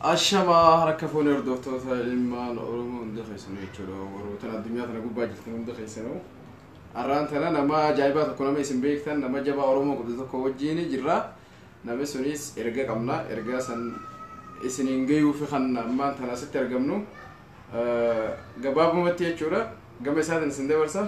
Ashamaa harka fuunee hordoftoota ilmaan Oromoo hunda keessanuu jechuudha. Warrootan addunyaa kana gubbaa jirtan hunda keessanuu. Har'aan tana nama ajaa'ibaa tokko nama isin beektan nama jabaa Oromoo godhu tokko wajjin jirra. Namni sunis erga qabna. Ergaa san isiniin gayuuf kan ammaan tana asitti argamnu. Gabaabumatti jechuudha. Gama isaatiin isin dabarsa.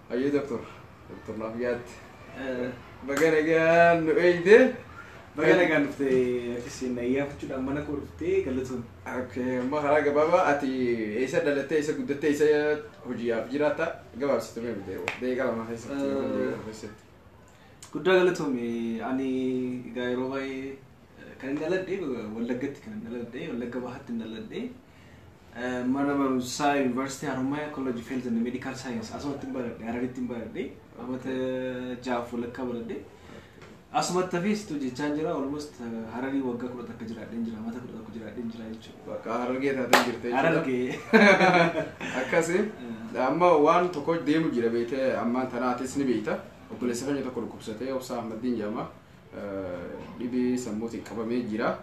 Hayyee doktor doktor naaf yaadde. Baga nagaan nu eegde. Baga nagaan dhufte akkasiin ayyaanfachuudhaan mana koo dhuftee galatoon. Okay, amma karaa gabaabaa ati eessa dhalattee eessa guddattee eessa hojiidhaaf jiraatta gabaabsitu mee bitee deeqa lama keessatti yookaan deeqa lama keessatti. Guddaa galatoomi ani egaa yeroo baay'ee eh, kan hin dhaladhe Wallaggatti kan hin dhaladhe Wallagga Bahaatti hin dhaladhe Mana barumsaa University Haromaya College of Health and Medical Science asumatti hin baradhe Hararitti hin baradhe amata jaaf walakkaa baradhe asumatti hafeessitu jechaan jira almost eh, Hararii waggaa kudha takka jiraadheen jira amata kudha tokko jiraadheen jira jechuudha. Bakka harargee taatee jirte jechuudha. Harargee. Akkasi amma waan tokko deemu jira beekte ammaan tanaatis ni beekta. Obboleessa keenya tokko dhukkubsatee obsaa Ahmaddiin jedhama. Eh, Dhibee sammuutiin qabamee jira.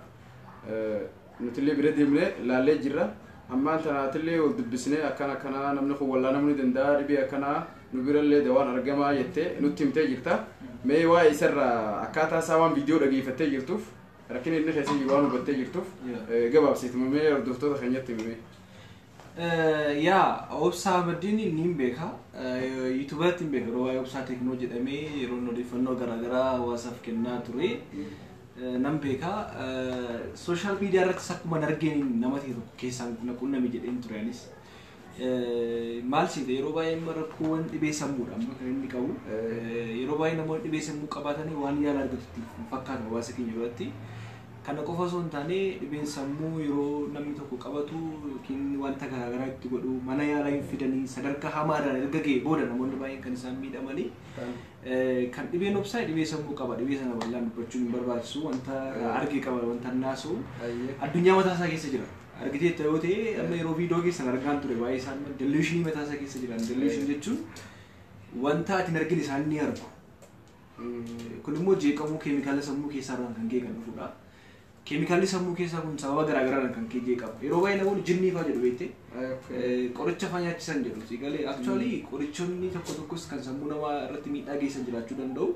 Eh, Nutillee bira deemnee laallee jirra. Ammaan tana atillee wal dubbisnee akkana akkana namni kun wallaanamuu ni danda'a dhibee akkanaa nu birallee dawaan argamaa jettee nutti himtee jirta. Mee waa'ee isarraa akkaataa isaa waan viidiyoo dhageeffattee jirtuuf rakkina inni keessa jiru waan hubattee jirtuuf Yeah. eh, gabaabsiituma mee hordoftoota keenyatti himee. Yaa obsaa Ahmeddiin niin beeka yuutubaratti hin beeka waa'ee obsaa teeknoo jedhamee yeroon odeeffannoo garaagaraa hawaasaaf kennaa ture nan beeka sooshaal miidiyaa irrattis akkuma argeen nama ta'e tokko keessaan na qunname jedheen ture anis maal siite yeroo baay'ee amma rakkoowwan dhibee sammuudha amma kan inni qabu yeroo baay'ee namoonni dhibee sammuu qabaatanii waan yaala argatutti fakkaata hawaasa keenya biratti Kana qofa osoo hin taane dhibeen sammuu yeroo namni tokko qabatu yookiin wanta garaagaraa itti godhu mana yaalaa hin fidanii sadarkaa hamaa irraan erga ga'e booda namoonni baay'een kan isaan miidhamanii eh, kan dhibeen obsaa dhibee sammuu qaba dhibee sana bal'aan dubbachuun hin barbaachisu wanta irraa arge qaba wanta naasuu Ayyee. addunyaa mataa isaa keessa jira argitee itti yoo ta'e amma yeroo viidiyoo keessan argaan ture baay'ee isaan delusionii mataa isaa keessa jiran delusion jechuun wanta ati hin argine isaan ni argu Kun immoo jeeqamuu keemikaala sammuu keessaa irraan kan ka'e kan dhufudha. Keemikaalli sammuu keessaa kun sababa garaa garaadhaan kan ka'e jeeqama. Yeroo baay'ee namoonni jinnii fa'aa jedhu beekte qoricha fa'aa nyaachisan jedhu. Si galee actually qorichoonni tokko tokkos kan sammuu namaa irratti miidhaa geessan jiraachuu danda'u.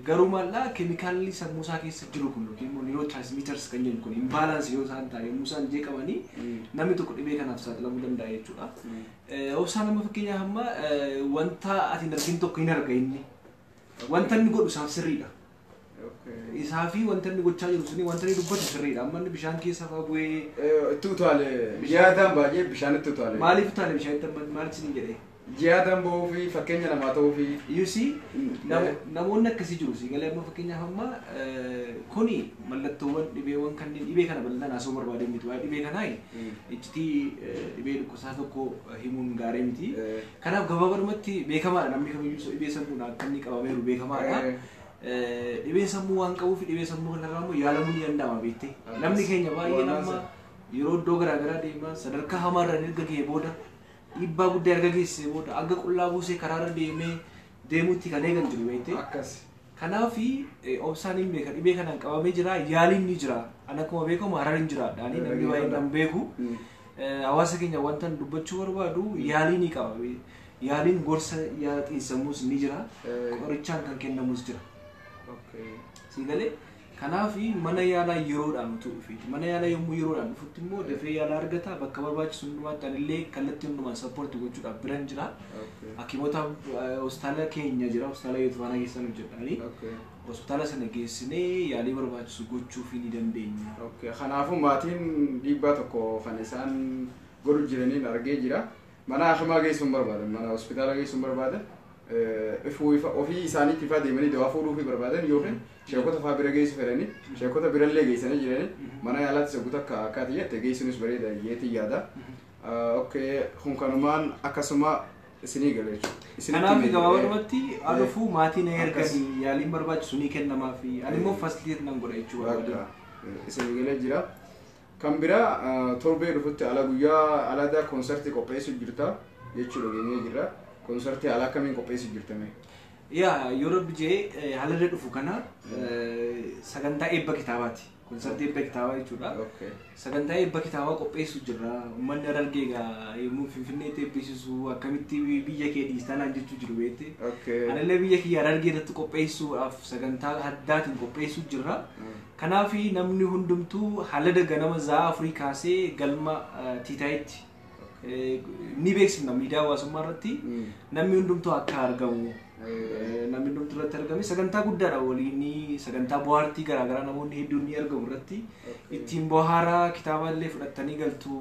Garuu maal'aa keemikaalli sammuu isaa keessa jiru kun yookiin immoo niiroo transmitters kan jennu kun imbalance yoo isaan ta'e yommuu isaan jeeqamanii namni tokko dhibee kanaaf saaxilamuu danda'a jechuudha. Obsaan amma fakkeenyaaf amma wanta ati hin argin tokko hin arga inni. Wanta inni godhu isaaf sirriidha. Isaa fi wanta inni gochaa jiru suni wanta inni dubbatu sirriidha. Amma inni bishaan keessa fa'aa bu'ee Itti utaale yaadaan baay'ee bishaanitti utaale. maaliif utaale bishaan itti amma maal isin jedhee? Yaadaan ba'uu fi fakkeenya namaa ta'uu fi You see, Mm. namo- namoonni akkasii jiru si galee amma fakkeenyaaf amma eh, kuni mallattoowwan dhibeewwan kanneen dhibee kana bal'inaan haasoo barbaadee miti waa'ee dhibee kanaa Mm. iccitii eh, dhibee isaa tokko himuun gaarii miti. Kanaaf gabaabadumatti beekamaadha namni kamiyyuu dhibee sammuudhaan akka inni qabameeru beekamaadha. Dhibeen sammuu waan qabuuf dhibee sammuu kanarraa immoo yaalamuu ni danda'ama beektee. Namni keenya baay'een amma yeroo iddoo garaagaraa deemaa sadarkaa hamaarraan erga ga'ee booda dhiibbaa guddaa erga geessisee booda akka qullaa buusee karaarra deemee deemuutti kan eegan jiru beektee. Akkas. Kanaaf obsaan hin beeka dhibee kanaan qabamee jira yaaliin ni jira. An akkuma beekamu hararin jiraadha. Ani namni baay'een nan beeku. Eh, Hawaasa keenya wanta ani dubbachuu barbaadu yaalii ni qaba. Yaaliin gorsa yaala xiinsammuus ni jira. Eh. Qorichaan kan kennamus jira. Okay. Sii galee Kanaaf mana yaalaa yeroodhaan utuu dhufeeti. Mana yaalaa yommuu yeroodhaan dhufutti immoo dafee yaala argata. Bakka barbaachisu hundumaatti anillee kallattii hundumaan sappoorti gochuudhaaf biran jira. Okay. Hakimoota eh, hospitaala keenya jira. Hospitaala Yootifaanaa keessaan hojjedhaani. Okay. Hospitaala sana geessinee yaalii barbaachisu gochuufii ni dandeenya. Okay. Kanaafuu maatiin dhiibbaa tokko kan isaan godhu jiraniin argee jira. Mana hakimaa geessuu hin barbaadan, mana hospitaala geessuu hin barbaadan, ifuu ifa ofii isaaniitti ifaa deemanii dawaa fuudhuufii barbaadan yookiin sheekota faa bira geessu fedhanii sheekota birallee geessanii jiranii mana yaalaatti saggu takka akkaati jette geessuunis bareeda jeetii yaada. Okkee kun kanumaan akkasuma isinii gala jechuudha. Isinitti Kanaaf himee- gabaabumatti alufuu maatii na Akkas. erganii yaaliin barbaachisu ni kennamaaf. Ani immoo fasiliteet nan godha jechuudha. Bakka isin galee jira. Kan biraa torbee dhufutti ala guyyaa alada konsartii qopheessu jirta jechuu dhageenyee jirra. Konsartii ala akkamiin qopheessu jirta mee? Yaa yoo rabbi jee halallee dhufu kana sagantaa eebba kitaabaati. Konsartii eebba kitaabaa jechuudha. Okay. Sagantaa eebba kitaabaa qopheessu jirra. Uummanni harargee egaa yommuu finfinneetti eebbisiisu akkamitti biyya kee dhiistaa naan jechuu jiru beekte. Okay. Anallee biyya kiyya harargee irratti qopheessuudhaaf sagantaa addaatiin qopheessuu jirra. Mm. Kanaafi namni hundumtuu halada ganama za'aa afurii kaasee galma Tiitaayitti ni beeksifna miidiyaa hawaasummaa irratti namni hundumtuu akka argamu namni hundumtuu irratti argame sagantaa guddaadha waliin sagantaa bohaartii garaagaraa namoonni hedduun ni argamu irratti ittiin bohaaraa kitaaba illee fudhattanii galtu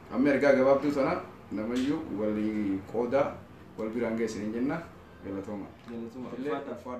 Amma ergaa gabaabduu tana namayyuu walii qoodaa wal biraan ga'e isiniin jenna galatoomaa. Galatoomaa. Ulfaadhaa.